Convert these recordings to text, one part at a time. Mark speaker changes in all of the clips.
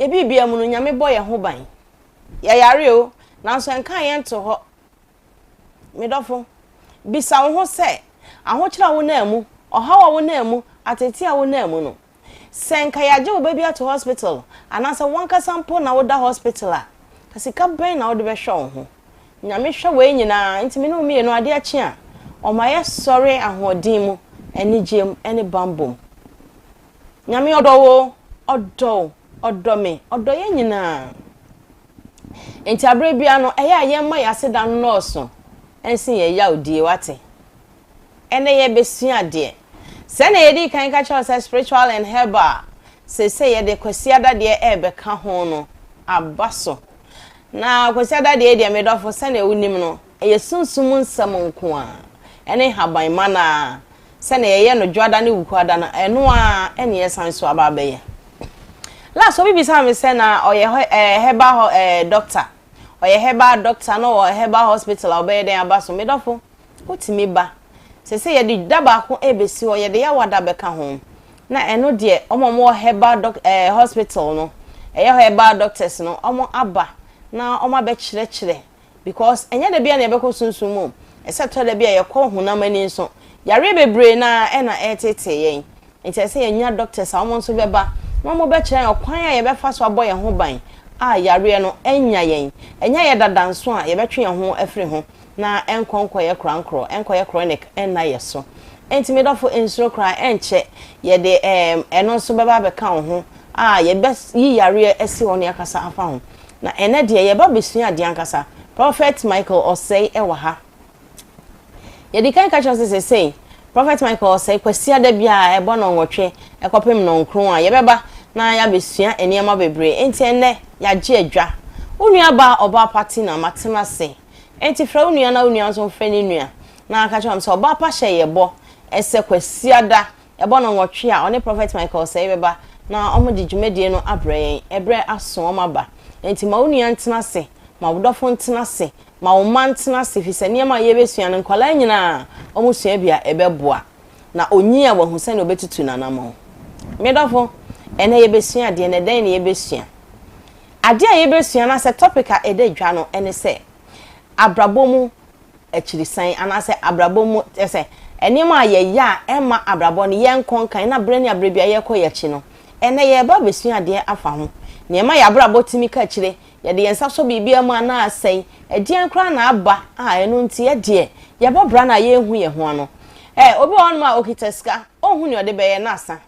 Speaker 1: Yɛ biribiara mu no, Nyame bɔ yɛn ho ban. Yɛyare o, nanso ɛnkaa yɛn to hɔ. Me dɔfo, bisa wo ho sɛ, ahokyerɛ a wonaa mu, ɔhaw a wonaa mu, ateetee a wonaa mu no, sɛ nka yɛagye wo ba bi ato hospital anaasɛ w'ankasa mpo na woda hospital a, sika bɛn na wode bɛhwɛ wo ho? Nyame hwɛ wei nyinaa, enti me ne wo mmienu, adeɛ kye a, ɔma yɛsɔre ahoɔden mu, anigyeɛ mu, ne bammɔ mu. Nyame ɔdɔ wo, ɔdɔ wo, ɔdɔ me, ɔdɔ yɛn nyinaa. Enti aberɛ biara no, ɛyɛ a yɛmma yɛn aseda nnɔɔso nsen yɛn yawdie, woate? Ɛnnɛ yɛrebɛsua adeɛ. Sɛdeɛ yɛdii kan ka kyerɛɛ wo sɛ spiritual and herbal, seesei yɛde Kwasiada deɛ ɛrebɛka ho no aba so. Na Kwasiada deɛ deɛ, me dɔfo, sɛdeɛ wonim no, Ɛyɛ sunsum nsɛm nko ara, ɛne nhaban ma no ara, sɛnea yɛyɛ no Dwoada ne Wukuada no, ɛno ara na yɛsan nso aba abɛyɛ. Last obi bisaa me sɛ na ɔyɛ herbal hɔ ɛɛ doctor, ɔyɛ herbal doctor na ɔwɔ herbal hospital a ɔbɛyɛ dɛn aba so? Me dɔfo, wotumi ba. Seesei yɛde da baako rebesi hɔ, yɛde Yawa da bɛka ho, na ɛno deɛ wɔn a wɔwɔ herbal doc ɛɛ hospital no, ɛyɛ herbal doctors no, wɔn aba na wɔn abɛkyerɛkyerɛ Because ɛnyɛ da biara na yɛbɛkɔ sunsum mu. Ɛsɛ sɛ ɛtɔ da bi a yɛkɔ honam ani nso. Yareɛ bebree no ara na ɛreteetee yɛn. Nti ɛsɛ sɛ yɛnya doctors a wɔn nso bɛba na wɔbɛkyerɛ yɛn ɔkwan a yɛbɛfa so abɔ yɛn ho ban a yareɛ no annya yɛn. Ɛnyɛ yɛ dada nso a yɛbɛtwe yɛn ho afiri ho na ɛnkɔ nkɔyɛ korankorɔ, ɛnkɔyɛ chronic nna yɛn so. Nti me dɔfo, nsuro koraa, ɛnkyɛ yɛde ɛno nso bɛba abɛka wo ho a yɛbɛyi yareɛ asi hɔ na yɛakasa afa ho. Na ɛnnɛ deɛ yɛba bɛsua adeɛ ankasa. Prophet Michael Osei ɛwɔ ha. Yɛdikan ka kyerɛ sɛ sesei Prophet Michael Osei Kwasiada biara ɛbɔ nnɔnwɔtwe ɛkɔpem nnɔnkron a yɛbɛba na yɛabɛsua nneɛma bebree. Enti ɛnnɛ yɛagye adwa. Wo nua baa Ɔbaa Pa Tina Matenase. Enti frɛ wo nua na wo nua nso mfrɛ ne nua na ka kyerɛ wɔn sɛ Ɔbaa Pa hyɛ yɛbɔ ɛsɛ Kwasiada Ɛbɔ nnɔnwɔtwe a, ɔne Prɔfɛt Michael Osei bɛba na wɔde dwumadie no abrɛ yɛn. Ɛberɛ aso, wɔaba. Enti ma wo nua ntena ase, ma wo dɔfo ntena ase, ma wo mma ntena ase, ɛfiri sɛ nneɛma a yɛrebɛsua no, nkwadaa nyinaa wɔsua bi a, ɛbɛboa. Na ɔnyin a, wahu sɛdeɛ ɔbɛtutu n'anammɔn. Me dɔfo, ɛnnɛ yɛbɛsua adeɛ, na ɛdɛn na yɛbɛsua? Adeɛ a yɛbɛsua, anaasɛ topic a ɛda dwa no, ɛne sɛ, Abrabɔ mu akyirisan anaasɛ abrabɔ mu te sɛ nneɛma a yɛyɛ a ɛmma abrabɔ no yɛnkɔ nkan na berɛ ne aberɛ biara yɛkɔ yɛn akyi no, ɛnnɛ yɛreba abɛsua adeɛ afa ho. Nea ɛma yɛn abrabɔ tumi ka akyire, yɛde yɛn nsa sɔ biribiara mu a na asɛe, ɛdeɛn koraa na aba a ɛno nti yɛdeɛ yɛbɔ bra no a yɛnhu yɛn ho ano? Ɛ, obi wɔ hɔnom a ɔkita sika, ɔnhu nea ɔde bɛyɛ na asa.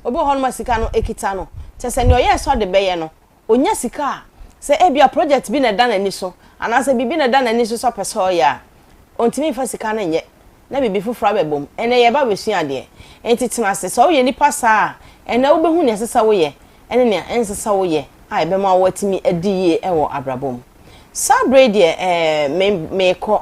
Speaker 1: Obi wɔ hɔnom a sika no kita no, kyerɛ sɛ nea ɔyɛ a ɛsɔ de bɛyɛ no, onya sika a, sɛ ebia project bi na ɛda n'ani so anaasɛ biribi na ɛda n'ani so sɛ ɔpɛ sɛ ɔyɛ a, ontumi mfa sika no nyɛ na biribi foforo abɛbom. Ɛnnɛ, yɛreba abɛsua adeɛ. Enti tena ase. Sɛ woyɛ nipa saa a, ɛnnɛ wobɛhu nea ɛsɛ sɛ woyɛ ne nea ɛnsɛ sɛ woyɛ a ɛbɛma woatumi adi yie wɔ abrabɔ mu. Saa berɛ yi deɛ, ɛɛ, me, merekɔ.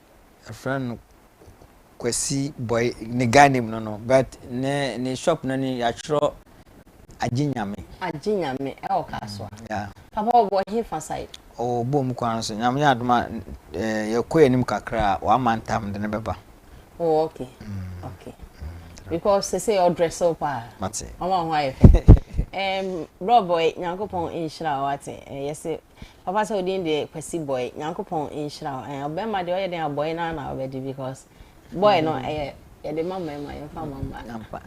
Speaker 1: Yɛfrɛ
Speaker 2: no Kwasi Boy ne guy name no no but ne ne shop no ne yɛatwerɛ Agye Nyame. Agye Nyame ɛwɔ Kasoa. Yeah. Papa ɔwɔ he fa
Speaker 1: side? Ɔwɔ Bom kwan
Speaker 2: no so. Nyame yɛ adom a eh, yɛkɔ yɛn anim kakra a wama ntam de ne bɛba. Oh, okay.
Speaker 1: Mm. Okay. Mm. Because they say you're dressed up. Mate. Mama, who
Speaker 2: are you?
Speaker 1: Um, bro boy, Nyankopon inshira wate. Eh, yes, Papa sɛ odin deɛ Kwasi boy Nyankopɔn nhyira wo ɛɛ ɔbɛrima deɛ ɔyɛ dɛn a boy no ara na ɔbɛgye because boy no ɛyɛ yɛde ma mmarima yɛmfa mma mmaa ampa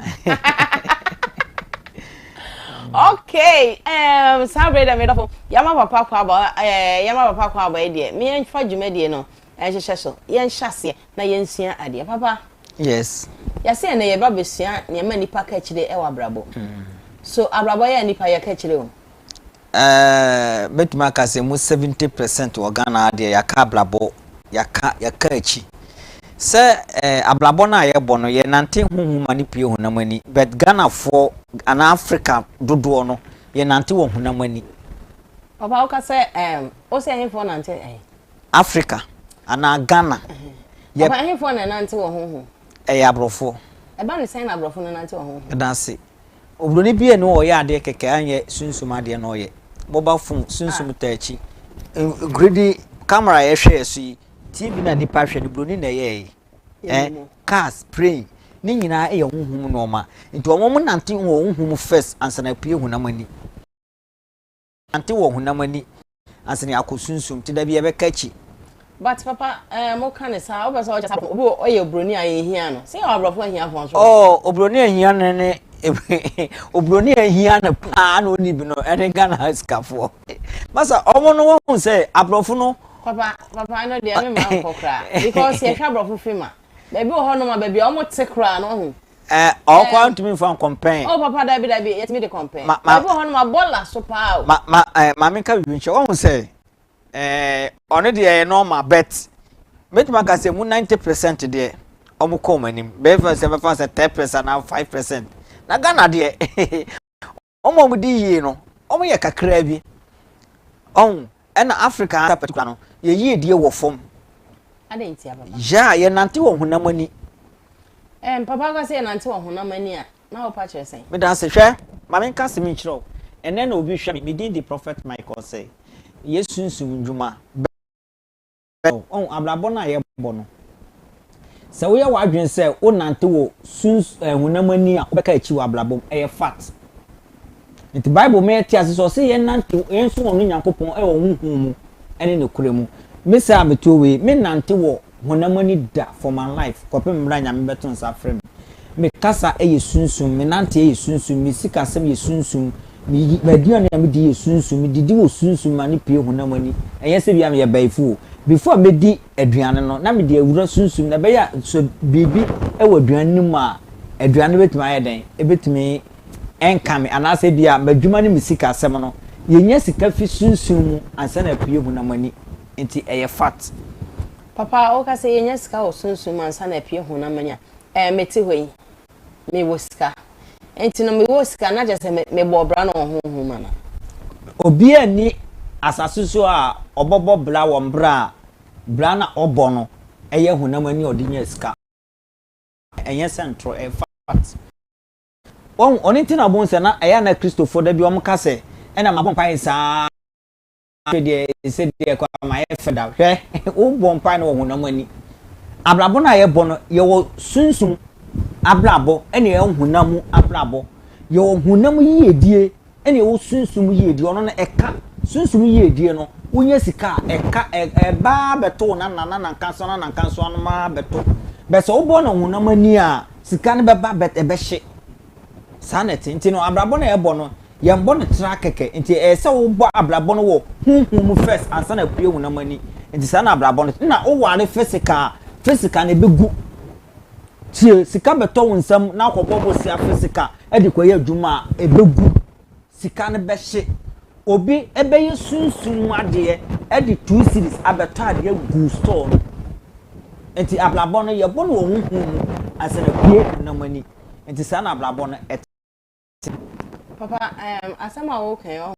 Speaker 1: okay um, saa bere dɛ me dɔfo yɛma papa kɔ aba ɛɛ yɛma papa kɔ aba yi deɛ me yɛmfa dwumadie no ɛnhyehyɛ so yɛnhyɛ aseɛ na yɛnsua adeɛ papa yes
Speaker 2: yɛsɛ ɛnɛ yɛba
Speaker 1: bɛsua nneɛma nnipa ka akyire ɛwɔ abrabɔ hmm. so abrabɔ yɛ nnipa yɛka akyire o Eeh mɛtumi
Speaker 2: aka sɛ mu 70 percent wɔ Ghana ha deɛ yɛaka abrabɔ, yɛaka yɛaka akyi. Sɛ eh, abrabɔ no a yɛbɔ no yɛnante honhom ma no pue honam ani, but Ghanafoɔ anaa Africa dodoɔ no yɛnante wɔ honam ani. Papa
Speaker 1: woka sɛ um, wo sɛ ɛhefoɔ nante ɛhe? Africa
Speaker 2: anaa Ghana. Yɛ, Papa ɛhefoɔ
Speaker 1: na ɛnante wɔ honhom? ɛyɛ aborɔfoɔ.
Speaker 2: Ɛba ne sɛn
Speaker 1: na aborɔfo no nante wɔ honhom? Ɛda ase.
Speaker 2: Oburoni bi a na ɔyɛ adeɛ kɛkɛ a nyɛ sunsum adeɛ na ɔyɛ. Mobile phone, sunsum taa akyi. Nkuridi, camera a yɛhwɛ yɛ so yi, TV no a nnipa hwɛ no, buroni na ɛyɛɛ yi. Eh, cars, plane, ne nyinaa yɛ honhom nneɛma. Nti wɔn nante wɔ honhom first ansa na apue honam ani. nante wɔ honam ani asene akɔ sunsum te da bi yɛbɛka akyi. But papa
Speaker 1: eh mo ka ne saa wopɛ sɛ ɔkyɛ sɛ obi ɔyɛ obroni a yɛhia no sɛ yɛ aborɔfo ahia fo nso oh obroni ahia
Speaker 2: no ne obroni ahia no paa na ɔni bi no ɛne Ghana sikafoɔ masa ɔmo no wɔhu sɛ aborɔfo no papa papa
Speaker 1: no deɛ me ma nkɔ koraa because yɛhwɛ aborɔfo film a baabi wɔ hɔ nom a baabi a ɔmo te koraa no ɔhu Ɛɛ eh, ɔwɔ kɔ
Speaker 2: ntumi nfa nkɔmpɛn. ɔ oh, papa dabi dabi
Speaker 1: yɛtumi de kɔmpɛn. ma ma ebi wɔ hɔ no ma bɔ la so paa o. ma ma ɛɛ eh, maame nka bibi
Speaker 2: nkyɛn wɔn sɛ ɛɛ eh, ɔno deɛ ɛyɛ normal bet mɛtumi aka sɛ mu ninety percent deɛ wɔn kɔ wɔn anim bɛyɛ fɛ sɛ bɛfa sɛ ten percent anaa five percent na ghana deɛ Wɔn a wɔdi yie no, wɔyɛ kakraa bi. Ɔho, ɛna Afrika ara particular no, yɛn yiedie wɔ fam. Adɛn ntia,
Speaker 1: papa? Yeah, yɛnante wɔ
Speaker 2: honam ani. Ɛɛm,
Speaker 1: papa woka sɛ yɛnante wɔ honam ani a, na wopa kyerɛ sɛn? Meda ase. Hwɛ,
Speaker 2: ma menka asɛm yi nkyerɛ wo. Ɛnnɛ na obi hwɛ me, me din de Prophet Michael Osei. Yɛ sunsum nnwuma. Ɔhu abrabɔ no a yɛbɔ no. Sɛ woyɛ w'adwene sɛ wonante wɔ suns eh, honam ani a, wobɛka akyi wɔ abrabɔ mu. Ɛyɛ fat. Nti Bible ma yɛte ase sɛ ɔse yɛnante yɛn so wɔn no Nyankopɔn ɛwɔ honhom mu ɛne ne korɛ mu. Me saa a metuo wei, me nante wɔ honam ani da for my life kɔpem mmerɛ a Nyame bɛto nsa afrɛ me. Me kasa yɛ sunsum, me nanteɛ yɛ sunsum, me sikasɛm yɛ sunsum, me yi m'aduane a me di yɛ sunsum, me didi wɔ sunsum ma no pue honam ani. Ɛnyɛ sɛ bia me yɛ bayifu o. Before me di aduane no, na me de awura sunsum na ɛbɛyɛ a sɛ biribi wɔ aduane no mu a, aduane no bɛtumi ayɛ dɛn? Ɛbɛtumi ɛnka me anaasɛ bia m'adwuma ne me sikasɛm no, yɛnya sika fi sunsum mu ansa na apue honam ani. Nti ɛyɛ fact. Papa
Speaker 1: woka sɛ yɛnya sika wɔ sunsum mu ansa na apue honam mu anya ɛɛ mete hɔ yi mewɔ sika nti no mewɔ sika na kyerɛ sɛ mebɔ bra no wɔ honhom anaa? Obiaa
Speaker 2: nni asase so a ɔbɔbɔ bra wɔ mberɛ a bra na ɔbɔ no yɛ honam ani a ɔde nya sika ɛnyɛ sɛ ntorɔ ɛyɛ fact wahu ɔno nti na bohu sɛ na ɛyɛ a na Christofoɔ dabi wɔn ka sɛ ɛna mabɔ mpaeɛ saa afei deɛ ɛsɛ deɛ kɔ ama yɛ fɛ da hwɛ wobɔ mpae no wɔ honam ani abrabɔ no a yɛbɔ no yɛwɔ sunsum abrabɔ ɛne yɛwɔ honam mu abrabɔ yɛwɔ honam yiedie ɛne yɛwɔ sunsum yiedie ɔno no ɛka sunsum yiedie no wonya sika a ɛka ɛbaa bɛto na na na nanka nso na nanka nso anoma bɛto bɛsɛ wobɔ no honam ani a sika no bɛba bɛt ɛbɛhye Saa na ɛte. Nti no, abrabɔ no a yɛbɔ no, yɛmbɔ no tra kɛkɛ. Nti ɛyɛ sɛ wobɔ abrabɔ no wɔ honhom mu first ansa na apue honam ani. Nti saa na abrabɔ no te. Nna woware physical a, physical no ɛbɛgu. Tie, sika bɛtɔ wo nsam na akɔbɔ bosea physical de kɔyɛ adwuma a, ɛbɛgu. sika no bɛhye. Obi bɛyɛ sunsum mu adeɛ de two cedis abɛtɔ adeɛ agu store no mu. Nti abrabɔ no, yɛbɔ no wɔ honhom mu ansa na apue honam ani. Nti saa na abrabɔ no te. Papa,
Speaker 1: um, asɛm a woka yi, ɔho,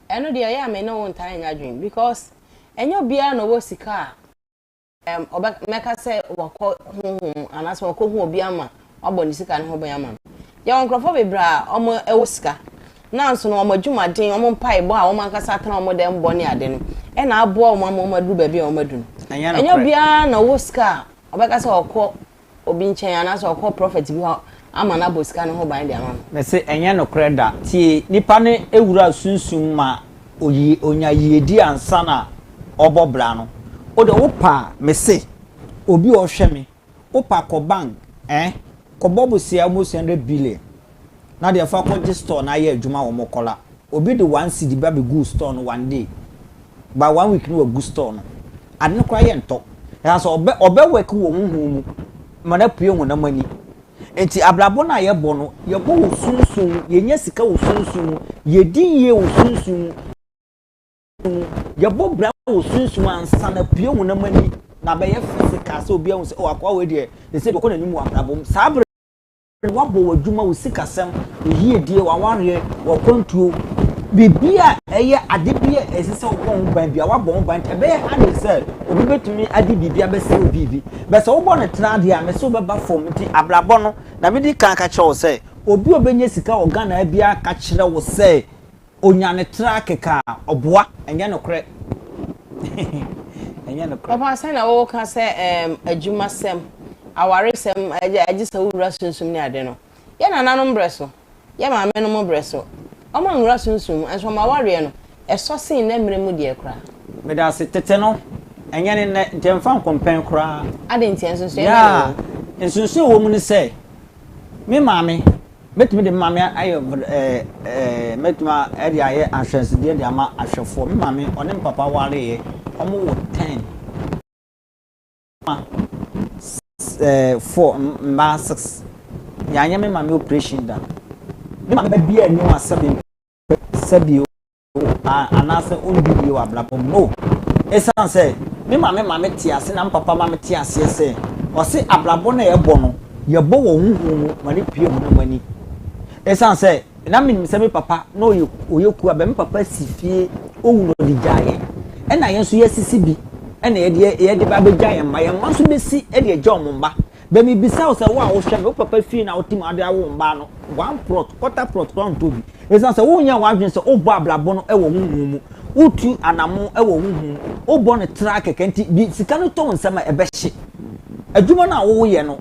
Speaker 1: ɛno deɛ ɛyɛ a me ne wo ntaa nyɛ adwene because ɛnyɛ obiara na ɔwɔ sika a Ɔbɛ mɛka sɛ wakɔ honhom mu anaasɛ wakɔhu obi ama wabɔ ne sika no ho bɛn ama no yɛwɔ nkurɔfoɔ bebree a wɔn ɛwɔ sika nanso no wɔn adwumaden wɔn mpaebɔ a wɔn ankasa atena wɔn dɛm bɔ ne ade no ɛna aboa wɔn ama wɔn aduru baabi a wɔn adu no ɛnyɛ obiara na ɔwɔ sika a ɔbɛka sɛ ɔkɔ obi nkyɛn anaasɛ ɔkɔ prɔfɛt bi hɔ ama no abɔ sika no ho ban de ama no. Mese ɛnyɛ nokorɛ
Speaker 2: da. Tie, nipa no wura sunsum ma oyi, onya yiedie ansa na ɔbɔ bra no. Wo deɛ wo pa a, mese obi a ɔhwɛ me, wo pa kɔ bank eh, kɔbɔ bosea almost hundred billion na deɛ fa kɔ gye store no ayɛ adwuma wɔ mo kɔla obi de one cedi ba bɛ guu store no one day by one week no wa gu store no ade no koraa yɛ ntɔ ɛha sɛ ɔbɛ ɔbɛ work wɔ honhom mu ma no apue honam ani nti abrabɔ no a yɛ bɔ no yɛ bɔ wɔ sunsun mu yɛ nya sika wɔ sunsun mu yɛ di yie wɔ sunsun mu yɛ bɔ bra wɔ sunsun mu ansa na apue honam ani na bɛyɛ fɛ sika sɛ obi ahu sɛ ɔwɔ akoa wɔ deɛ ɛsɛ bɛkɔ n'anim wɔ abrabɔ mu saa bere W'abɔ w'adwuma, wo sikasɛm, wo yiedie, w'awareɛ, w'akwantuo, biribi a ɛyɛ ade bi a ɛsɛ sɛ wobɔ ho ban bi a wabɔ ho ban nti ɛbɛyɛ hard sɛ obi bɛtumi ade biribi abɛsɛ obi bi bɛ sɛ wobɔ no tena adeɛ a mɛ sɛ wobɛba fam nti abrabɔ no na medi kan ka kyerɛ wo sɛ obi a ɔbɛnya sika wɔ Ghana biara ka kyerɛ wo sɛ Onya ne tra kekaa ɔboa ɛnyɛ nokorɛ ɛnyɛ nokorɛ. Papa sɛ na wo ka sɛ
Speaker 1: ɛɛm adwuma sɛm aware sɛm agye sɛ wo wura sunsum ne ade no yɛ nana nom brɛ so yɛ maame nom brɛ so ɔmo anwura sunsum mu ɛnso ɔmo awareɛ no ɛsɔ sen nɛ mmerɛ mu deɛ koraa. Medase tete
Speaker 2: no ɛnyɛ ne nɛ nti ɛnfa nkompɛn koraa. Aden nti ɛnsunsuɛ bɛn na
Speaker 1: ɛwɔ mu. Yeah
Speaker 2: nsunsuɛ ɛwɔ mu ne sɛ me maame. Mɛtumi de me maame ayɛ Mɛtumi de ayɛ ahwɛsedeɛ de ama ahwɛfoɔ Me maame ɔne me papa wareeɛ Wɔwo ten Mma four Mmaa six Yɛanyɛ me maame operation da Me maame ba biara nni ho asɛm Mempɛ sɛ bio anaasɛ ɔnni yie wɔ abrabɔ mu. No. Ɛsiane sɛ me maame ma me te ase na me papa ma me te aseɛ sɛ ɔse abrabɔ no a yɛbɔ no, yɛbɔ wɔ honhom mu ma no pue honam ani. Ɛsiane sɛ na menim sɛ me papa na ɔyɛ ɔyɛ kuo a bɛ me papa si fie ɔwu na ɔde gyaa yɛn. Ɛna yɛn nso yɛasisi bi ɛna yɛde yɛde ba bɛgya yɛn mma. Yɛn mma nso bɛsi de agya wɔn mma. Dɛ mibisa wo sɛ, wo a wohwɛ me, wo papa fie na wotsim ha de awo wo mbaa no, one plot, quarter plot koraa nntɔ bi. Esiane sɛ wonnyɛɛ w'adwen sɛ wobɔ abrabɔ no wɔ honhom mu, wotu anamɔn wɔ honhom mu, wobɔ no traa kɛkɛ ntsi, bi sika no tɔ wo nsa mu a, ebɛhye. Edwuma no a woyɛ no,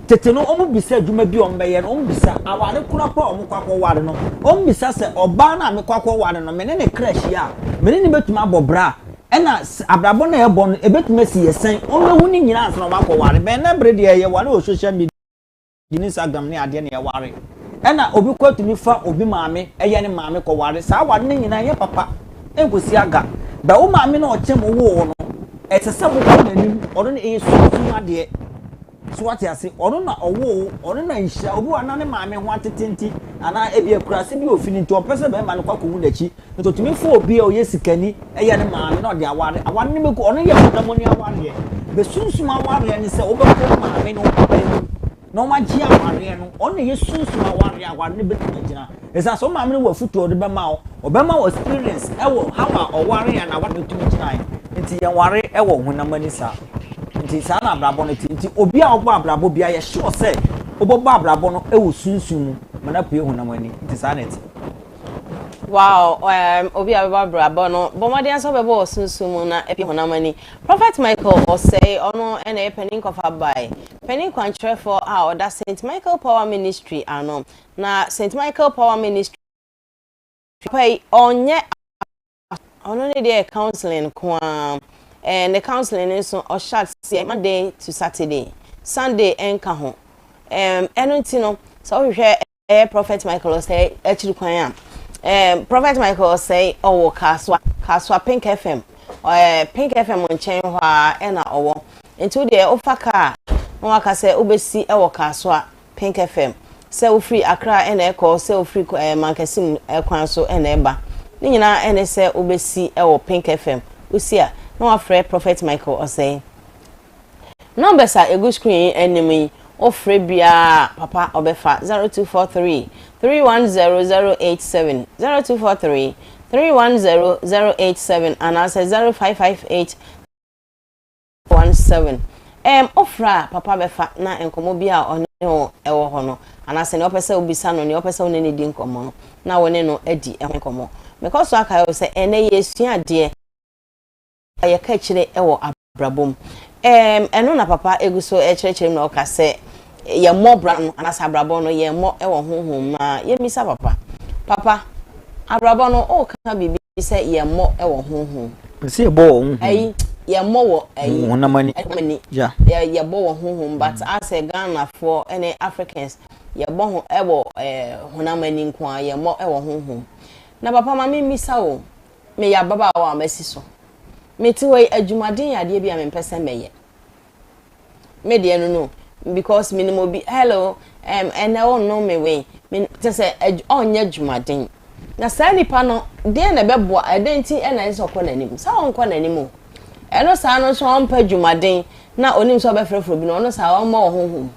Speaker 2: tsetse no wommisa edwuma bi a wɔbɛyɛ no, wommisa awar kor akor a wɔkɔ akɔwar no, wommisa sɛ ɔbaa no a mekɔ akɔwar no, me ne ne kra hyia a, me ne no bɛtumi abɔ bra a, Ɛna sɛ abrabɔ no a yɛbɔ no ɛbɛtumi asi yɛ sɛn? Wɔn bɛhu ne nyinaa ansa na wɔn akɔ ware. Bɛn na bere deɛ yɛ ware wɔ social media ne Instagram ne adeɛ na yɛ ware. Ɛna obi kɔ atumi fa obi maame ɛyɛ ne maame kɔ ware. Saa ware no nyinaa ɛnyɛ papa ɛnkɔsi aga. Bɛ wo maame na ɔkyɛ mo woo wo no ɛsɛ sɛ mo kɔ n'anim ɔno na ɛyɛ sunsum adeɛ. So wate ase? Ɔno na ɔwoo wo, ɔno na nhyira. Obi wɔ hɔ na ne maame ho atete nti, anaa ebia akuraase bi a ofi no nti, ɔmpɛ sɛ barima no kɔ akohu n'akyi. Nti otumi fa obi a ɔyɛ sikani yɛ ne maame na ɔde aware. Aware no bɛgu hɔ. Ɔno yɛ honam ani awareɛ. Bɛsunsum awareɛ no sɛ wobɛkɔ wo maame ne wo papa anim na wɔagye awareɛ no. Ɔno na ɛyɛ sunsum awareɛ a aware no bɛtumi agyina. Esiane sɛ wo maame no wɔ afotu a ɔde bɛma wo, ɔbɛma wo experience ɛwɔ how a ɔware a n'aware no tumi gyinae. Nti yɛn ware ɛwɔ honam ani saa. Nti saa na abrabɔ no te. Nti obi a ɔbɔ abrabɔ biara yɛ sure sɛ wobɛbɔ abrabɔ no ɛwɔ sunsum mu ma no apue honam ani. Nti saa na ɛte.
Speaker 1: Wow um obi a ɔbɛbɔ abrabɔ no bɔ mmɔden ara sɛ wobɛbɔ wɔ sunsum mu na apue honam ani. Prophet Michael Osei ɔno ɛna ɛyɛ panin kɔfabae, panin kwankyerɛfoɔ a ɔda Saint Michael Power Ministry ano. Na St. Michael Power Ministry papa yi ɔnyɛ ɔno ne deɛ counseling nko ara ɛɛ ne counseling no nso ɔhyɛ aseɛ Monday to Saturday Sunday ɛnka ho ɛɛm ɛno nti no sɛ wohwehwɛ ɛyɛ Prophet Michael Osei akyiri kwan a ɛɛm Prophet Michael Osei ɔwɔ Kasoa Kasoa Pink FM ɛɛ Pink FM nkyɛn hɔ a ɛna ɔwɔ nti wo deɛ wofa kaa na waka sɛ wobɛsi ɛwɔ Kasoa Pink FM, sɛ wofiri Accra na ɛkɔ, sɛ wofiri mankɛse mu kwan so na ɛba, ne nyinaa ne sɛ wobɛsi wɔ Pink FM. Wosi a, na wɔafrɛ Prophet Michael Osei. Numbers a ɛgu screen yi anim yi, wofrɛ biara a, Papa ɔbɛfa, 0243 310087, 0243 310087 anaasɛ 0558 One seven, Ɛɛm, ofra a papa bɛfa na nkɔmmɔ bi a ɔne wo wɔ hɔ no, anaasɛ nea ɔpɛ sɛ wobisa no, nea ɔpɛ sɛ wo ne no di nkɔmmɔ no, na wo ne no adi ho nkɔmmɔ. Mekɔ so akae wo sɛ ɛnnɛ yɛresua adeɛ a yɛka akyire wɔ abrabɔ mu. Ɛɛm, ɛno na papa gu so rekyerɛkyerɛ mu na ɔka sɛ. Yɛmmɔ bra no anaasɛ abrabɔ no, yɛmmɔ wɔ honhom mu a. Yɛmmisa papa. Papa, abrabɔ no, woka biribi sɛ yɛmmɔ wɔ honhom mu. Mese yɛbɔ wɔ honhom
Speaker 2: mu. Ayi, yɛmmɔ
Speaker 1: wɔ ayi. Honam ani. Honam ani.
Speaker 2: Yeah. Yɛ,
Speaker 1: yɛbɔ wɔ honhom, but mm. asɛ Ghanafoɔ ne Africans, yɛbɔ ho, wɔ eh, honam ani nko a, yɛmmɔ wɔ honhom. Na papa ma me mmisa o, meyɛ ababaawa a masi so. Mete hɔ yi, adwumaden yɛ adeɛ bi a mempɛ sɛ mɛyɛ. me deɛ no no because menim obi hello um, ɛnɛ wonnom me wei kyɛ sɛ ɔnyɛ adwumaden na saa nipa no deɛ na ɛbɛboa ɛdɛn nti ɛna ɛsɛ ɔkɔ n'anim sɛ ɔnkɔ n'anim o ɛno saa no nso ɔmpɛ adwumaden na onim sɛ ɔbɛfrɛfrɛ bi no ɔno saa ɔmmɔ wɔ honhom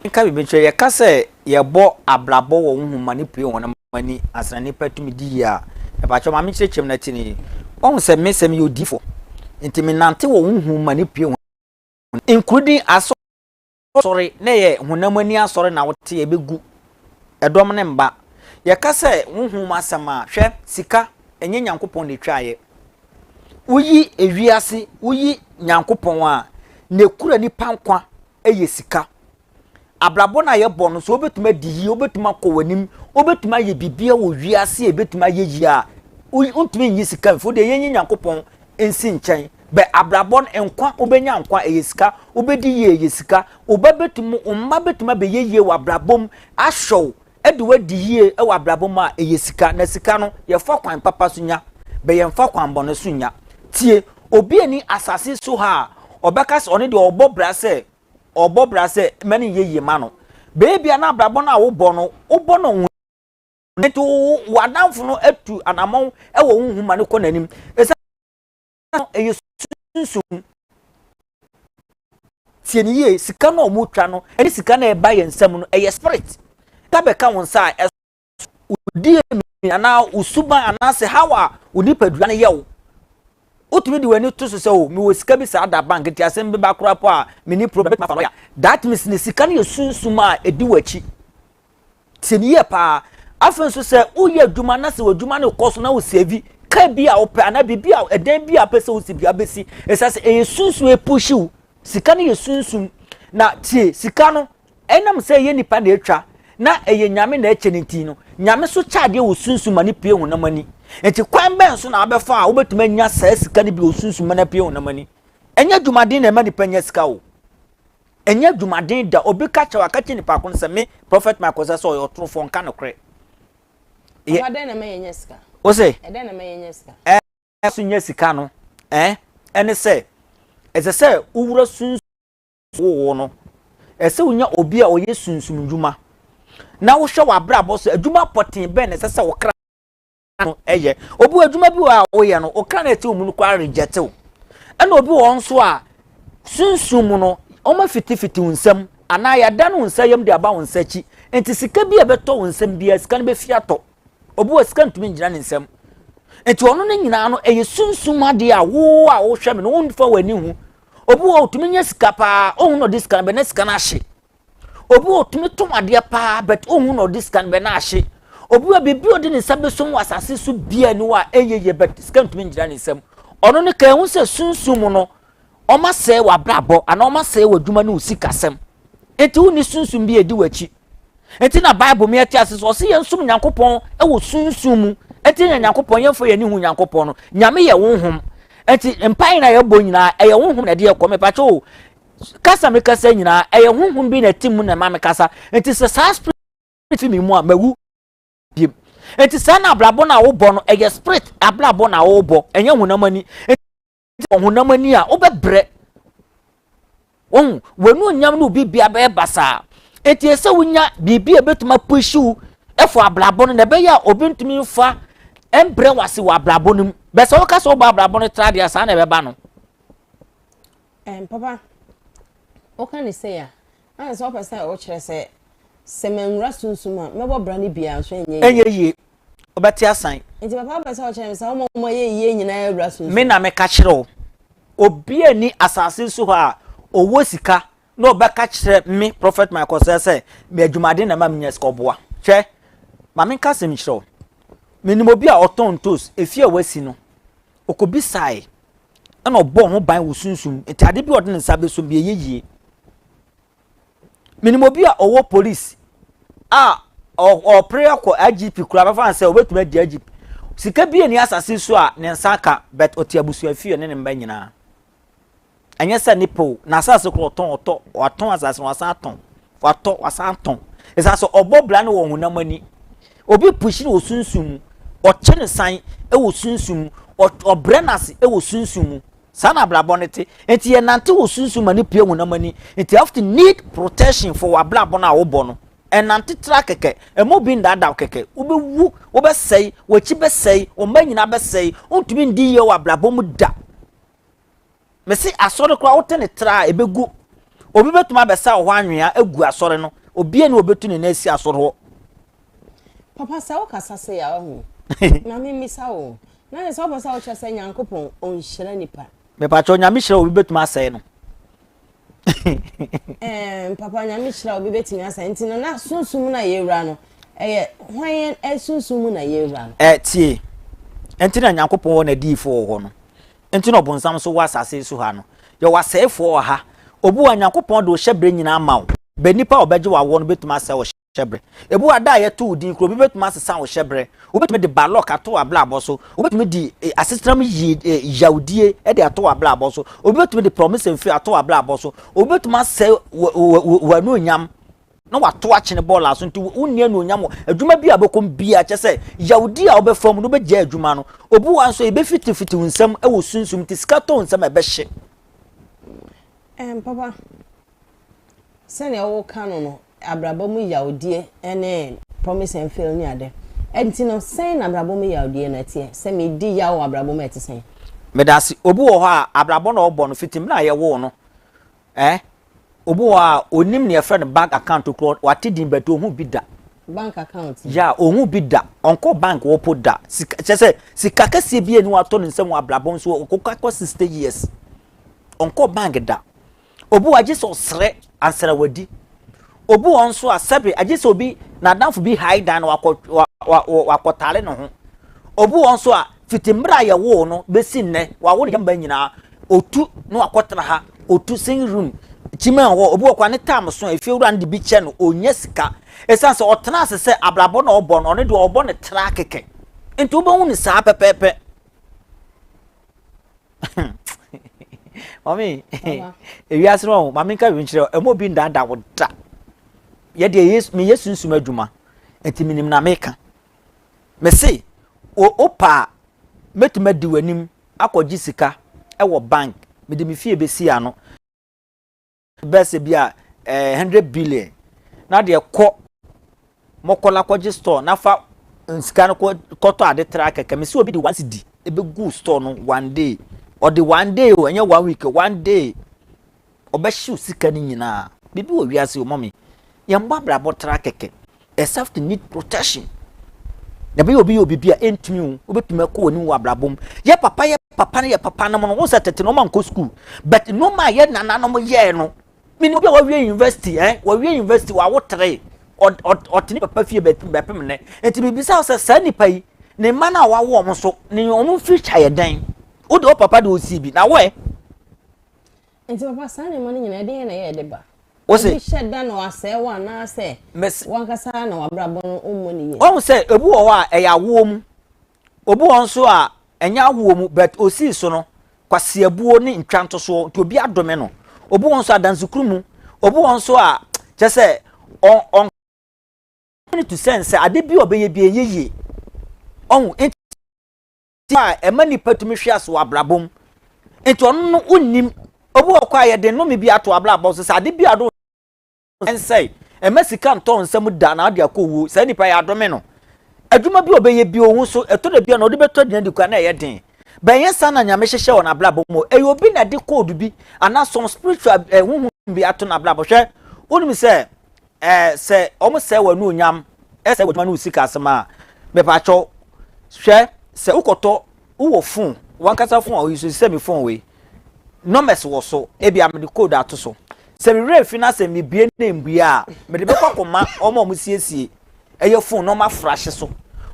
Speaker 2: Nka biribi nkyerɛ. Yɛka sɛ yɛbɔ abrabɔ wɔ honhom ma no pue hɔn ma ni ansa nipa tumi di yie a, mepakyɛw ma menkyerɛkyerɛ mu na ti ni. Wahu sɛ me sɛ meyɛ odiyifo nti menante wɔ honhom ma no pue hɔn nkurudin asɔ asɔre na ɛyɛ honam ani asɔre na wote a ɛbɛgu ɛdɔm ne mba. Yɛka sɛ honhom mu asɛm a, hwɛ, sika, ɛnyɛ Nyankopɔn na ɛtwaeɛ. Woyi ewiase, woyi Nyankopɔn a, na ɛkura nipa nkwa yɛ sika. Abrabɔ no a yɛbɔ no, sɛ wobɛtumi adi yie, wobɛtumi akɔ w'anim, wobɛtumi ayɛ biribiara wɔ wiase a ɛbɛtumi ayɛ yie a, wontumi nyi sika mfo deɛ yɛnyi nyankopɔn nsi nkyɛn bɛ abrabɔ no nkwa wobɛnya nkwa ɛyɛ sika wobɛdi yie ɛyɛ sika woba bɛtumi mma bɛtumi abɛyɛ yie wɔ abrabɔ mu ahwɛw de wadi yie wɔ abrabɔ mu a, ɛyɛ sika, na sika no, yɛfa kwan papa so nya, bɛ yɛmfa kwan bɔne so nnya. Tie, obi ani asase so ha a, ɔbɛka sɛ ɔno deɛ ɔbɔ bra sɛ, ɔbɔ bra sɛ mɛ no nyɛ yie ma no. Baabi a na abrabɔ no a wobɔ no, wobɔ no wo nti wo w'adamfo no atu anamɔn wɔ wo ho ma no kɔ n'anim. Ɛsɛ. no ɛyɛ sunsum tie ne yie sika no a wɔtwa no ɛne sika no a ɛba yɛn nsam no ɛyɛ spirit ka bɛka wo nsa a wodie mi anaa wosuban anaasɛ how a wo nipadua no yɛ wo wotumi de w'ani to so sɛ o oh, mewɔ sika bi saa da bank nti asɛm bi ba koraa po a meni problem bɛtumi afa lɔya that means ne sika no yɛ sunsum a ɛdi w'akyi Tie no yie paa. Afei nso sɛ woyɛ adwuma na sɛ w'adwuma no rekɔ so na wosɛvi kaa bi a wopɛ anaa biribi a ɛdan bi a wopɛ sɛ wosi bia bɛsi ɛsɛ sɛ ɛyɛ sunsun ɛpuhyi wo sika no yɛ sunsun na tie sika no ɛnam sɛ ɛyɛ nipa na ɛtwa na ɛyɛ nyame na ɛkyɛ no nti no nyame so kyɛ adeɛ wɔ sunsun ma no pie honam ani nti kwan bɛn so na abɛfa a wobɛtumi anya saa sika no bi wɔ sunsun ma no pie honam ani ɛnyɛ adwumaden na ɛma nipa nya sika o Ɛnyɛ adwumaden da. Obi ka kyerɛ wo a, ka kyerɛ nipa ko no sɛ, Me, Prɔfɛt Michael Osa sɛ ɔyɛ ɔtorofoɔ, nka nokorɛ. Yɛ.
Speaker 1: Papa, dɛn na ɛma yɛnya sika? Wo se.
Speaker 2: Ɛdɛn
Speaker 1: na ɛma yɛnya sika? Ɛ. Ɛma so nya sika
Speaker 2: no, ɛ, ɛne sɛ, ɛsɛ sɛ wowura sunsum. Wowoo no. Ɛsɛ sɛ wonya obi a ɔyɛ sunsum nnwuma, na wohwɛ w'abrabɔ so. Adwuma pɔtee bɛn na ɛsɛ sɛ wo kra. no yɛ obi wɔ adwuma bi wɔ a woyɛ no ɔka no ɛte wo mu no koraa rejɛte wo ɛna obi wɔ nso a sunsum mu no wɔn afitifiti wo nsam anaa yɛadan wo nsa yam de aba wo nsa akyi nti sika bi a ɛbɛtɔ wo nsam biara sika no bɛfi atɔ obi wɔ sika ntumi ngyina ne nsam nti ɔno no nyinaa no ɛyɛ sunsum adeɛ a wo a wohwɛ me no wonfa w'ani ho obi wɔ ɔtumi nyɛ sika paa ɔhu na ɔde sika no bɛ na sika no ahye Obi wɔ otumi tɔn adeɛ paa but ohun na ɔde sika no bɛ na ahye. Obi wɔ biribi a ɔde ne nsa bɛsum wɔ asase so bia ni wɔ a ɛnyɛ yie but sika ntumi ngyina ne nsam. Ɔno no kan ehu sɛ sunsum mu no ɔma sɛe wɔ abrabɔ anaa ɔma sɛe wɔ adwuma ne wo sikasɛm. Enti wo ni sunsum bi edi w'akyi. Enti na Bible mi ɛte ase sɛ ɔsi yɛn sum Nyankopɔn ɛwɔ sunsum mu. Enti yɛn Nyankopɔn yɛn fɔ yɛn ni hu Nyankopɔn no. Nyame yɛ honhom. Enti mpae na yɛbɔ nyinaa ɛyɛ honhom na ɛde ɛkɔ. Mepatwa o kasa me kasa nyinaa ɛyɛ honhom bi na ɛte mu na ɛma me kasa nti sɛ saa spirit fi me mu a mawu biem nti saa na abrabɔ no a wobɔ no ɛyɛ spirit abrabɔ na wobɔ ɛnyɛ honam ani nti honam ani a wobɛbrɛ wɔn wɔn onyam no bibia bɛyɛ basaa nti ɛsɛ wonya biribi a ɛbɛtumi apehyiw ɛfɔ abrabɔ no na ɛbɛyɛ a obi ntumi nfa ɛmbrɛ wase wɔ abrabɔ no mu bɛsɛ woka sɛ wobɔ abrabɔ no tra deɛ saa na ɛbɛba no Ɛɛ papa,
Speaker 1: woka no sei a, ana sɛ wopɛ sɛ wokyerɛ sɛ sɛ manwura sunsum a mɛbɔ bra no bi a nso ɛnyɛ yie? Ɛnyɛ yie. Wobɛte
Speaker 2: asan. Nti papa wopɛ sɛ wokyerɛ
Speaker 1: me sɛ woma wɔn a ɛyɛ yie nyinaa wura sunsum? Me na meka kyerɛ wo.
Speaker 2: Obi a ni asase so hɔ a ɔwɔ sika na ɔbɛka kyerɛ me Prophet Michael sɛ sɛ me adwumaden na ɛma menya sika ɔboa. Hwɛ, ma menka asɛm nkyerɛ wo. Menim obi a ɔtɔn ntos, efie a wasi no, ɔkɔbisae ɛna ɔbɔɔ ho ban wɔ sunsum nti ade bi a ɔde ne nsa bɛso bi ɛyɛ yie menim obi a ɔwɔ police a ɔpere akɔ igp kura bɛfa sɛ ɔbɛtumi adi igp sika bi ani asase so a ne nsa ka but ɔte abusua fie ne ne mba nyinaa ɛnyɛ sɛ ne pew na asase korɔ ɔtɔn ɔtɔ watɔn asase no wasan atɔn watɔ wasan atɔn ɛsɛ sɛ ɔbɔ bra ne wɔ honam ani Obi push no wɔ sunsum mu, ɔkye no san wɔ sunsum mu, ɔbrɛ no ase wɔ sunsum mu. Saa na abrabɔ no te. Nti yɛnante wɔ sunsum ma no pue honam ani. Nti you have to need protection for w'abrabɔ no a wobɔ no. Ɛnante tra kɛkɛ. Ɛma obi nnaadaa wo kɛkɛ. Wobɛwu, wobɛsɛe, w'akyi bɛsɛe, wo mma nyinaa bɛsɛe. Wontumi ndi yie wɔ abrabɔ mu da. Mese asɔre koraa wote ne tra a ebegu. Obi betumi abɛsa wɔ hɔ anwea agu asɔre no. Obiara ni obetu ne nan asi asɔre hɔ. Papa
Speaker 1: sɛ wokasa sei a wahu. Na me mmisa wo. Na yɛ sɛ wopɛ sɛ wokyerɛ sɛ Nyankopɔn ɔnhyira nipa. Mepakyɛ Nyame hyira
Speaker 2: obi betumi asɛe no.
Speaker 1: Ɛɛ papa Nyame hyira obi betumi asɛe nti no na sunsum na yɛwura no ɛyɛ hwan yɛn sunsum mu na yɛwura no. Ɛɛ tie.
Speaker 2: Ɛnti na Nyankopɔn wɔ n'adiyifoɔ wɔ hɔ no. Nti na ɔbonsam nso wɔ asase yi so ha no. Yɛwɔ asɛefoɔ wɔ ha. Obu a Nyankopɔn de ɔhyɛ berɛ nyinaa ma wo. Bɛ nipa a ɔbɛgye wo awoɔ no bɛtumi asɛe wo hyɛ berɛ. Ebu a da a yɛto wo din kura obi bɛtumi asesa wo hyɛ berɛ. Wobɛtumi de bad luck ato w'abrabɔ so. Wobɛtumi de eh, asetena mu yie eh, yawdie de ato w'abrabɔ so. Obi bɛtumi de promise and fail ato w'abrabɔ so. Obi bɛtumi asɛe w'anuonyam. na wato akyene bɔɔl aso nti wonni anuonyam wɔ adwuma bi a bɛkɔm biara kyɛ sɛ yawdi a wobɛfa mu no wobɛgyaa adwuma no obi wa nso yɛbɛfitifitiw nsɛm wɔ sunsum nti sika tɔn nsɛm a ɛbɛhye ɛn
Speaker 1: papa sɛnea woka no no abrabɔ mu yawdie ɛne promise and fail ne ade ɛnti no sɛn na abrabɔ mu yawdie no ɛteɛ sɛ medi yaw wɔ abrabɔ mu ɛte sɛn medase obi
Speaker 2: wɔ hɔ a abrabɔ na ɔbɔ no fiti mmerɛ a yɛwoo no Eh? Obi wɔ hɔ a, onim nea yɛfrɛ no bank account korɔ, wate din but ɔnhu bi da. Bank account?
Speaker 1: Yeah, ɔnhu bi da.
Speaker 2: Ɔnkɔ bank hɔ po da. Sika, kyerɛ sɛ, sika kɛseɛ biara nni hɔ a atɔ ne nsam wɔ abrabɔ mu, so ɔkɔ akɔ 60 years. Ɔnkɔ bank da. Obi wɔ hɔ a, gye sɛ ɔsrɛ ansa na wadi. Obi wɔ hɔ nso a, sɛbe, agye sɛ obi, n'adamfo bi hae dan na wakɔ, wa, wa, wa, wakɔtare ne ho. Obi wɔ hɔ nso a, Fiti mmerɛ a yɛwoo no bɛsi nnɛ, wɔawo no yɛmma nyinaa. Ɔtu na wakɔtra ha. Ɔtu sing room, kyiman hɔ. Obi wɔ koraa ne tam so a, efiewura no de bi kyɛ no, ɔnnya sika. Ɛsiane sɛ ɔtena ase sɛ abrabɔ na ɔbɔ no, ɔno deɛ ɔbɔ no tra kɛkɛ. Nti wobɛhu no saa pɛpɛɛpɛ. Mami, ewiase no ɔho, mami nka nkyerɛ, ɛmu obi ndaadaa wo da. Yɛ deɛ meyɛ sunsum adwuma, nti menim na meka. Mese wo wopɛ a mɛtumi adi w'anim akɔgye sika wɔ bank mede me fie bɛsi ano bɛɛ sɛ bi a eh, 100 billion na deɛ kɔ mɔkɔla kɔgye store na fa nsika no kɔtɔ ade tra kɛkɛ mese obi de one cedi ɛbɛgu store no one day ɔde one day o ɛnyɛ one week one day ɔbɛhyew sika no nyinaa. Biribi wɔ wiase o mommy yɛn mmɔ abrabɔ tra kɛkɛ except need protection na bɛyɛ obi yɛ biribi a ɛntumi o wobɛtumi akɔ w'anim wɔ abrabɔ mu yɛ papa yɛ papa no yɛ papa nom no wo sɛ tete no ɔma nkɔ school but nneɛma a yɛ nananom yɛɛ no mene obi a wawie university eh wawie university wawo tere ɔte ne papa fie bɛpem nnɛ nti bibisa wo sɛ saa nnipa yi ne mma no a wawo ɔmo so ne ɔmo future yɛ dɛn wode wo papa de ɔsii bi na woɛ
Speaker 1: Nti papa saa nneɛma no nyinaa ɛdeɛn na ɛyɛ ɛde ba? Wose. Obi hyɛ da
Speaker 2: na wasɛe wo
Speaker 1: anaasɛ. Mese. Wankasa na wabrabɔ no ɔmmɔ ne yie. Wahu sɛ ebi wɔ hɔ a
Speaker 2: ɛyɛ awoɔ mu. Obi wɔ nso a ɛnyɛ awoɔ mu but osii so no kwaseabuo ne ntwa ntosoɔ nti obi adome no. Obi wɔ nso adansekuru mu. Obi wɔ nso a kyɛ sɛ ɔn ɔn to sɛn sɛ ade bi a ɔbɛyɛ bi ɛnyɛ yie. Ɔhu nti. a ɛma nipa tumi hwe ase wɔ abrabɔ mu nti ɔno no wonnim obi wɔ kɔ a yɛde nnome bi ato abrabɔ so sɛ ade bi a do nsɛe ɛma sika ntɔ nsɛm da na ade akɔ wuo saa nipa yɛ adome no adwuma bi ɔbɛyɛ bi ohu so ɛtɔ da bi a na ɔde bɛtɔ aduane di kwa na ɛyɛ den bɛnyɛ saa na nyame hyehyɛ wɔ n'abrabɔ mu ɛyɛ obi na de kóòdù bi anaa some spiritual ɛhuhu eh, bi ato n'abrabɔ hwɛ wonim sɛ Eh sɛ ɔmo sɛe w'anuonyam eh sɛe w'adwuma ne wo sika asɛm a mepakyɛw hwɛ sɛ wokɔtɔ wowɔ fon w'ankasa fon a oyi so te sɛ me fon wei numbers wɔ so ebia mede code ato so sɛ me werɛ fi na sɛ mebue na embue a mede bɛkɔ akɔma ɔmo a ɔmo siesie ɛyɛ fon na ɔmo afrahye so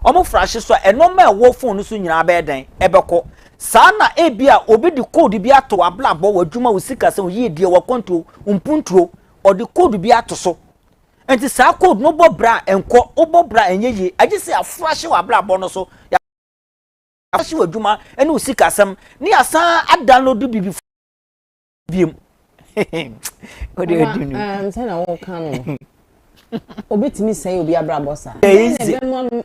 Speaker 2: ɔmo frahye so a ɛnɔma a ɛwɔ fon no so nyinaa bɛyɛ dɛn ɛbɛkɔ saa na ebia obi de code bi ato w'abrabɔ w'adwuma wo sikasɛm wo yiedie w'akwantuo wo mpuntuo ɔde code bi ato so nti saa code no bɔ bra nkɔ wobɔ bra ɛnyɛ yie agye sɛ aforo ahyɛ wɔ abrabɔ no so yɛahyɛ wɔ adwuma ne wo sikasɛm ne yɛasan adownload biribi biom wode adi no um, sɛ
Speaker 1: na woka no obɛtumi sɛe obi abrabɔ saa ɛbɛma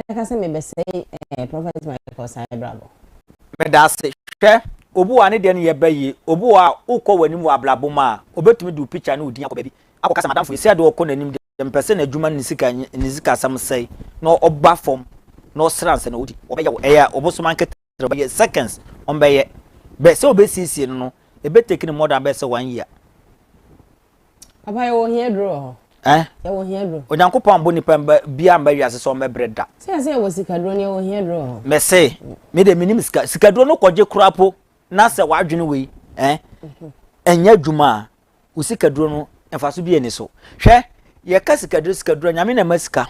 Speaker 1: Mɛka sɛ mebɛsɛe eh, Prophet Michael saa abrabɔ. Meda ase.
Speaker 2: Hwɛ, obu a ne deɛ no yɛ bɛ yie, obu a wokɔ w'anim wɔ abrabɔ mu a, ɔbɛtumi de wo picture ne wo din akɔ baabi akɔka sɛ madamfo yi, sɛ ɛdeɛ ɔkɔ n'anim deɛ, mepɛ sɛ n'adwuma ne ne sika ne ne sikasɛm sɛe na ɔba fam na ɔsra ansa na ɔdi, wɔbɛyɛ wo, ɛyɛ ɔbosom ankɛtɛ. sɛ ɔbɛyɛ seconds ɔmbɛyɛ bɛ sɛ ɔbɛsiesie no no ɛbɛ take no more than bɛ
Speaker 1: sɛ
Speaker 2: one year. Papa yɛwɔ ohia duro
Speaker 1: wɔ hɔ.
Speaker 2: Eh? Yɛwɔ ohia duro.
Speaker 1: Onyankopɔn ambo nipa mba
Speaker 2: bia mba wiase sɛ ɔmbɛbrɛ da. Sɛ yɛsɛ yɛwɔ sika duro
Speaker 1: no yɛwɔ ohia duro wɔ hɔ. Mese
Speaker 2: me de menim sika sika duro no kɔgye kora po na sɛ wadwene wei eh ɛnyɛ adwuma a wo sikaduro no mfaso bi ani so hwɛ yɛka sikaduro sikaduro nyame na ɛma sika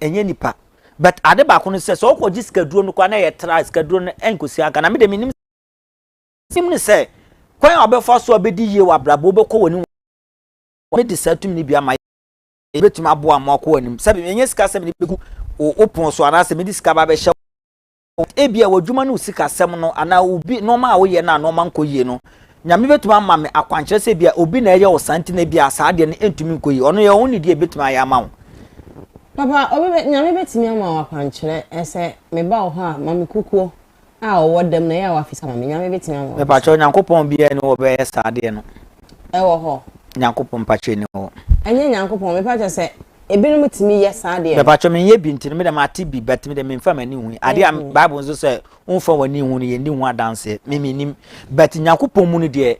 Speaker 2: ɛnyɛ nipa but ade baako no sɛ sɛ ɔkɔ gye sikaduro no kɔ na yɛ tra sikaduro no ɛnkosi anka na me de me nim sim ne sɛ kwan a ɔbɛfa so a ɔbɛdi yie wɔ abrabɔ ɔbɛkɔ wɔ anim wɔn de saa tumi no bi ama yɛ bɛtumi aboa ma ɔkɔ wɔ anim sɛbi ɛnyɛ sika sɛ mede bɛgu wo pon so anaasɛ mede sika ba bɛhyɛ Ebia w'adwuma ne wo sikasɛm no anaa obi nneɛma a woyɛ no a nneɛma nkɔ yie no, Nyame bɛtumi ama me akwankyerɛ sɛ ebia obi na ɛyɛ wo saa nti na ebia saa adeɛ no ntumi nkɔ yie. Ɔno yɛ wo ho nidie a ɛbɛtumi ayɛ ama wo. Papa,
Speaker 1: obi bɛ, Nyame bɛtumi ama wo akwankyerɛ sɛ meba wo hɔ a, ma me kukuo a ɔwɔ dam no, ɛyɛ a wafesa ma me. Nyame bɛtumi ama wo saa. Mepakyɛw, Nyankopɔn
Speaker 2: biara ni hɔ a ɔbɛyɛ saa adeɛ no. Ɛwɔ hɔ.
Speaker 1: Nyankopɔn mpakyɛ
Speaker 2: ni hɔ. Ɛnyɛ Nyankopɔn,
Speaker 1: mepakyɛ sɛ Ebinom tumi yɛ saa deɛ. Bɛpatwɛ me nyɛ bi nti no
Speaker 2: me deɛ mate bi but me deɛ memfa m'ani hu. Adeɛ a mm-hmm. Bible nso sɛ womfa w'ani hu no yɛn di ho adanseɛ. Me menim but Nyankopɔn mu no deɛ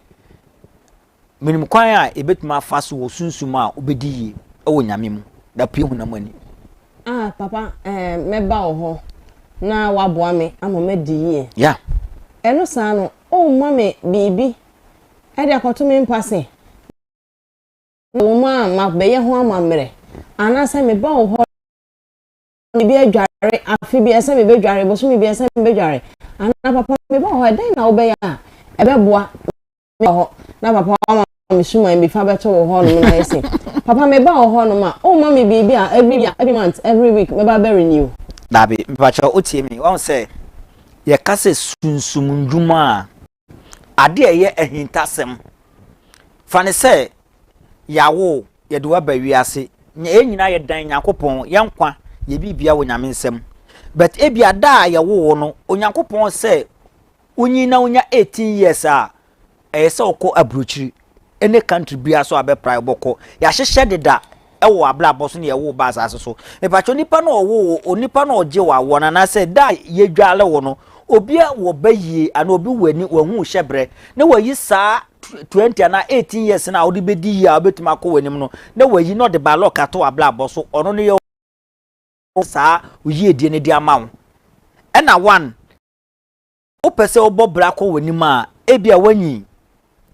Speaker 2: menim kwan a ebetumi afa so wɔ sunsum a obedi yie wɔ Nyame mu. Da pue hu na mo ani. Ah papa
Speaker 1: eh, mɛba wɔ hɔ na waboa me ama madi yie. Ya.
Speaker 2: Ɛno saa
Speaker 1: no, ɔmma me biribi ɛde akɔto me mpa se. na wɔn a mabɛyɛ ho amammerɛ, anaasɛ meba wo hɔ na biribi adware afe biara sɛ mebɛdware, bosome biara sɛ mebɛdware, anaa papa meba wo hɔ a, dɛn na wobɛyɛ a ɛbɛboa meba hɔ na papa wama me suman bi fa bɛto wo hɔ nom na ayɛ se, papa meba wo hɔ nom a, womma me biribi a every year, every month, every week mɛba bɛ renew. Daabi, mepakyɛw
Speaker 2: wotie me, wahu sɛ yɛka sɛ sunsum ndwuma a. Ade a ɛyɛ ahintasɛm, fa no sɛ yɛawo wo, yɛde wo aba wiase, na yɛn nyinaa yɛdan Nyankopɔn, yɛn nkwa yɛ biribia wɔ Nyame nsam. But ebia da a yɛwoo wo no, Onyankopɔn sɛ wonyin na wonya 18 years a, ɛyɛ sɛ wokɔ aburokyiri. ne country biara so a bɛpra bɔkɔ yɛahyehyɛ deda ɛwɔ abrabɔ so ne yɛwo ba asase so mepatwɛ onipa no ɔwo wo onipa no ɔgye wɔ awoɔ no anaasɛ da a yɛdwale wo no obi a wɔ ba yie ana obi wɔ ani wahu hyɛ berɛ na wayi saa 20 anaa 18 years no a wode bɛdi yie a wobɛtumi akɔ w'anim no na wayi na ɔde ba lɔka to abrabɔ so ɔno no yɛ saa oyiedie no de ama wo ɛna one wopɛ sɛ wobɔ bra kɔ w'anim a ebia woanyin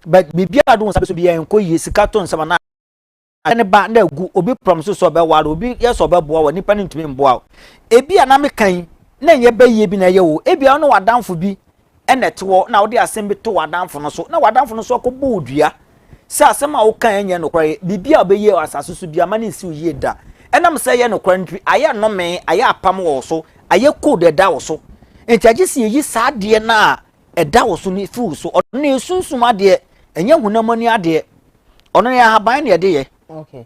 Speaker 2: but biribiara a do wo nsa bɛso biara nkɔ yie sika to nsɛm anaa ne ba na agu obi pram so sɛ ɔbɛware obi yɛ sɛ ɔbɛboa wɔ nipa no ntumi mboa ebi a na meka yi na ɛnyɛ bɛyie bi na ɛyɛ o ebi a ɔne w'adanfo bi ɛna ɛte hɔ na wode asɛm bi to w'adanfo no so na w'adanfo no nso akɔbɔ odua sɛ asɛm a wokae nyɛ nokware. Biribi a wobɛyie wɔ asase so biara ma no nsi wo yie da. Ɛnam sɛ ɛyɛ nokware nti, ayɛ nnome, ayɛ apam wɔ wo so, ayɛ code ɛda wo so. Nti agye sɛ yɛyi saa adeɛ no a ɛda wo so no firi wo so. Ɔno na ɛyɛ sunsum adeɛ, ɛnyɛ honam ani adeɛ. Ɔno no yɛ ahaban na yɛde yɛ. Okay.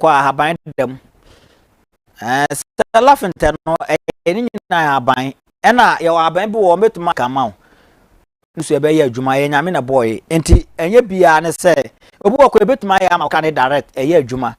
Speaker 2: kɔ ahaban da mu ɛɛ sɛ lafentɛ no ɛyɛ ne nyinaa ahaban ɛna yɛwɔ ahaban bi wɔ hɔ mɛtumi aka ma wo nso ɛbɛyɛ adwuma yɛ nyame na bɔɔ yi nti ɛnyɛ biara ne sɛ obi wɔ kɔ ɛbɛtumi ayɛ ama woka ne direct ɛyɛ adwuma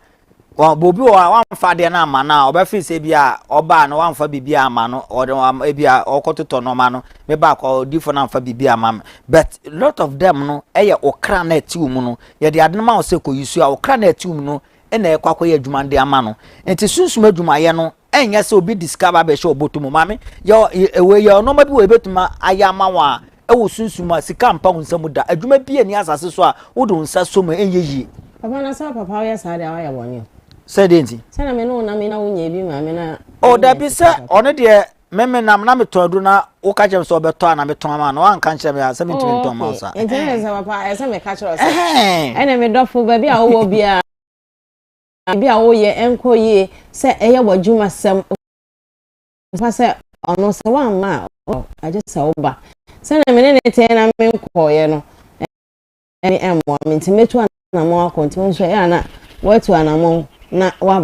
Speaker 2: bobi wɔ a wamfa adeɛ no ama no a ɔbɛfe sɛ bi a ɔbaa no wamfa biribi ama no ɔde ebi a ɔkɔtotɔ nɔɔma no meba akɔ ɔdifo no amfa biribi ama me but lot of them no ɛyɛ okra na ɛte wo mu no Yɛde ade no ma wo sɛ kɔyi su a wo kra no ɛte wo mu no na ɛrekɔ akɔyɛ adwuma no de ama no. Enti sunsum adwumayɛ no nyɛ sɛ obi de sika aba abɛhyɛ wo bɔtɔ mu. Maame, yɛ wei, yɛ nneɛma bi wɔ yɛbɛtumi ayɛ ama wo a ɛwɔ sunsum mu a sika mpa wo nsa mu da. Adwuma biara nni asase so a wode wo nsa sɔ mu a ɛnyɛ yie. Papa, na sɛ papa
Speaker 1: woyɛ saa deɛ a woayɛ bɔne o. Sɛ deɛ nti?
Speaker 2: Sɛ na me ne wo nam yi na
Speaker 1: wonyɛɛ bi mmaa me na. O dabi, sɛ
Speaker 2: ɔno deɛ me me nam na metɔn aduro na woka kyerɛ me sɛ ɔbɛtɔ a na metɔn ama na wanka nkyerɛ me a sɛ mentumi ntɔn ma sa nti ne sɛ papa ɛsɛ
Speaker 1: meka kyerɛ sɛ ɛne me dɔfo baabi a wowɔ biara baabi a woyɛ ɛnkɔ yie sɛ ɛyɛ w'adwuma sɛm pa sɛ ɔno sɛ woamma a agye sɛ woba sɛnea me ne ne tee na menkɔɔeɛ no ɛne ɛmmoa me nti mɛtu anammɔn akɔ nti wo nso ɛyɛ a na woatu anammɔn na woaba